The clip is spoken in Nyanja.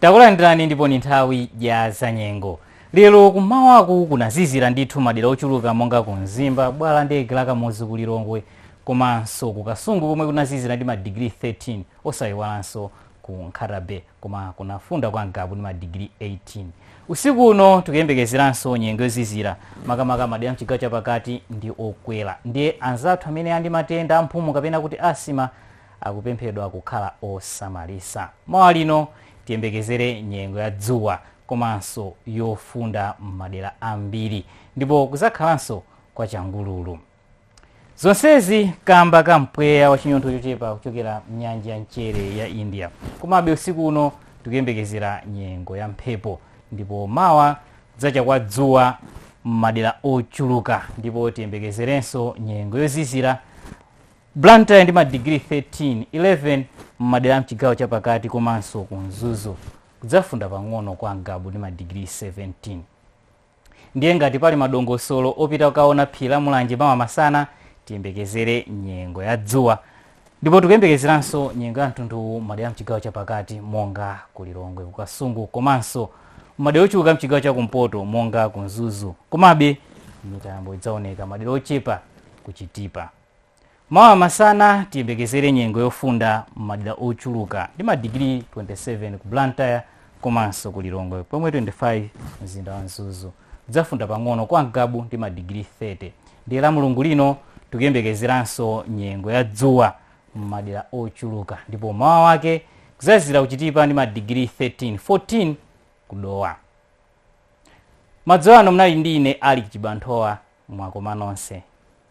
takulandirani ndipo ni nthawi ya zanyengo lero kumawaku kunazizira ndithu madera ochuluka monga ku mzimba bwalo la ndege la Kamuzu ku lilongwe komanso ku kasungu komwe kunazizira ndi madigiri 13 osayiwalanso ku nkhatabe koma kunafunda kwa Ngabu ndi madigiri 18 usiku uno tikuyembekezeranso nyengo yozizira makamaka madera mchigawo chapakati ndi okwera ndiye anzathu amene ali ndi matenda amphumu kapena kuti asima akupemphedwa kukhala osamalisa mawa lino tiyembekezere nyengo ya dzuwa komanso yofunda m'madera ambiri ndipo kuzakhalanso kwa changululu Zonsezi kamba ka mpweya wa chinyontho chochepa kuchokera mnyanja ya mchere ya India. Komabe usiku uno tikuyembekezera nyengo ya mphepo ndipo mawa kudzacha kwa dzuwa m'madera ochuluka ndipo tiyembekezerenso nyengo yozizira Blantyre ndi madigiri 13 11 m'madera a mchigawo chapakati komanso ku Mzuzu kudzafunda pang'ono kwa Ngabu ndi madigiri 17. Ndiye ngati pali madongosolo opita kukaona phiri la Mulanje mawa masana, tiyembekezere nyengo ya dzuwa. Ndipo tikuyembekezeranso nyengo ya mtundu uwu m'madera mchigawo chapakati monga ku Lilongwe, ku Kasungu komanso m'madera ochuluka mchigawo cha kumpoto monga ku Mzuzu. Komabe mitambo idzaoneka madera ochepa ku Chitipa. Mawa masana tiyembekezere nyengo yofunda m'madera ochuluka ndi madigiri 27 ku Blantyre komanso ku Lilongwe pomwe 25 mzinda wa Mzuzu. Kudzafunda pang'ono kwa Ngabu ndi madigiri 30. Ndiye la Mulungu lino tikuyembekezeranso nyengo ya dzuwa m'madera ochuluka ndipo mmawa wake kuzazizira ku Chitipa ndi madigiri 13 14 ku Dowa madzulo ano munali ndi ine ali chibanthowa mwakoma nonse